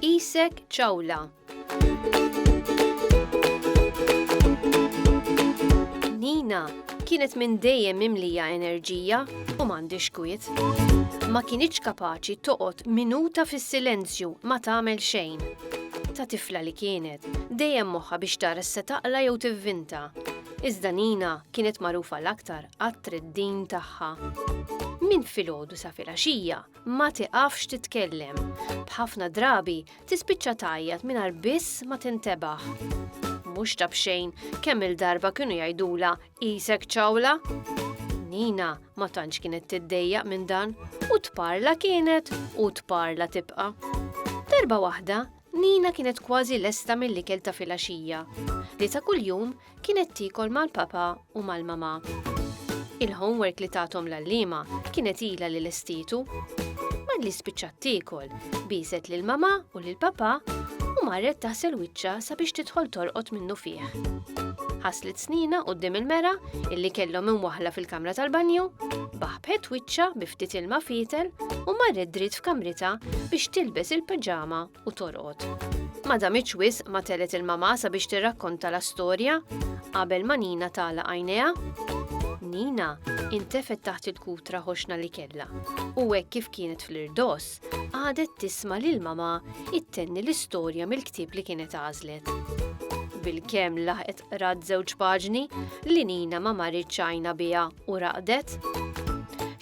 Isek ċawla. Nina kienet minn dejjem mimlija enerġija u m'għandix kwiet. Ma kienitx kapaċi toqgħod minuta fis-silenzju ma tagħmel xejn. ta' tifla li kienet dejjem moħħha biex tara x'se taqla' jew tivvinta. Iżda Nina kienet magħrufa l-aktar għat-treddin tagħha. Minn filgħodu sa filgħaxija ma tiqafx titkellem. B'ħafna drabi tispiċċa tgħajjat mingħajr biss ma tintebaħ. Mhux ta' b'xejn kemm il-darba kienu jgħidulha Qisek ċawla? Nina ma tantx kienet tiddejjaq minn dan, u tparla kienet u tparla tibqa'. Darba waħda, Nina kienet kważi lesta mill-ikel ta' filgħaxija, li ta' kuljum kienet tiekol mal-papà u mal-mamà. Il-homework li tathom l-għalliema kienet ilha li lestietu. Malli spiċċat tiekol, Biset lil mama u lil papa u marret taħsel wiċċa sabiex tidħol torqod minnu fih. Ħaslet snina qudiem il-mera illi kellhom imwaħla fil-kamra tal-banju, baħbet wiċċa bi ftit ilma fietel u marret dritt f'kamrita biex tilbes il-paġama u torqod. Ma damitx wis ma telet il-mama sabiex tirrakkonta la storja qabel ma Nina tala għajnejha. Nina intefet taħt il-kutra ħoxna li kella u hekk kif kienet fl-irdos Qagħdet tisma' lil mamà ittenni l-istorja mill-ktieb li kienet għażlet. Bilkemm laħqet qrat żewġ paġni, li Nina ma marritx għajna biha u raqdet.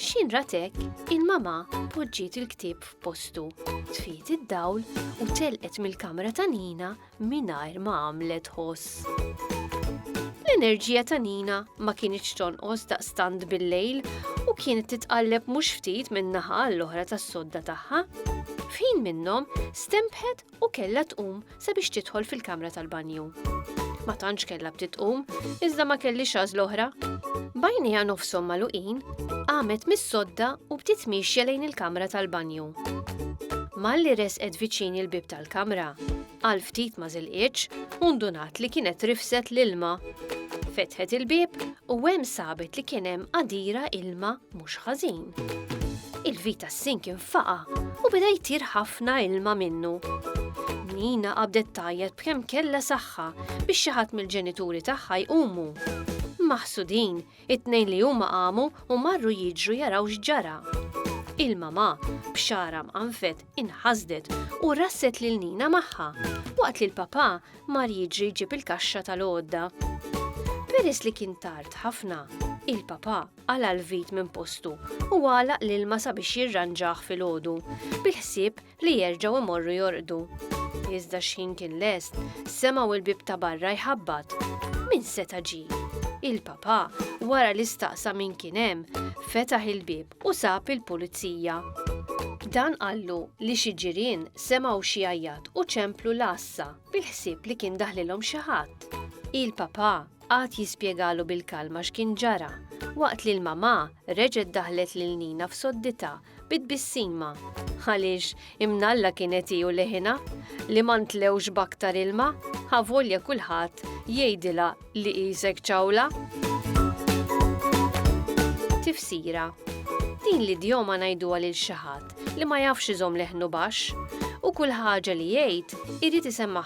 X'in ratek, il-mamà poġġiet il-ktieb f'postu, tfiet id-dawl u telqet mill-kamra ta' Nina mingħajr ma għamlet ħoss. L-enerġija ta' Nina ma kienitx tonqos daqstant bil-lejl u kienet titqalleb mhux ftit minn naħa l-oħra tas-sodda tagħha. F'ħin minnhom stempħet u kellha tqum sabiex tidħol fil-kamra tal-banju. Ma tantx kellha btit tqum, iżda ma kelli xaż l-oħra. Bajnija nofshom maluqin, qamet mis-sodda u bdiet miexja lejn il-kamra tal-banju. Malli resqet viċin il-bib tal mal-kamra. Għal ftit ma żilqitx u ndunat li kienet rifset l-ilma. Fetħet il-bieb u hemm sabet li kien hemm qadira ilma mhux ħażin. Il-vita s-sink infaqa u beda jtir ħafna ilma minnu. Nina qabdet tajjat b'kemm kellha saħħa biex xi ħadd mill-ġenituri tagħha jqumu. Maħsudin, It-tnejn li huma qamu u marru jiġru jaraw x'ġara. Il-mamà, b'xagħarha mqanfet, inħasdet u rasset lil Nina magħha, waqt li l-papà mar jiġri jġib il-kaxxa tal-għodda. Peress li kien tard ħafna, il-papà qala' l-vit minn postu u għalaq l-ilma sabiex jirranġah filgħodu, bil-ħsieb li jerġgħu imorru jorqdu. Iżda x-xħin kien lest, semgħu l-bieb ta' barra jħabbat. Min seta' ġie? Il-papà, wara li staqsa min kien hemm, fetaħ il-bieb u sab il-pulizija. Dan qallu li xi ġirien semgħu xi jgħajjat u ċemplu l-għassa bil-ħsieb li kien daħlilhom xi ħadd. Il-papà qagħad jispjegalu bil-kalma x'kien ġara, waqt li l-mamà reġgħet daħlet lil Nina f'sodditha bi tbissima, għaliex imnalla kienet hi u leħinha, li ma ntlewx b'aktar ilma, avolja kulħadd jgħidilha li qisek ċawla. Tifsira, Din l-idjoma ngħiduha lil xi ħadd li ma jafx iżomm leħnu baxx, u kull ħaġa li jgħid irid isemma'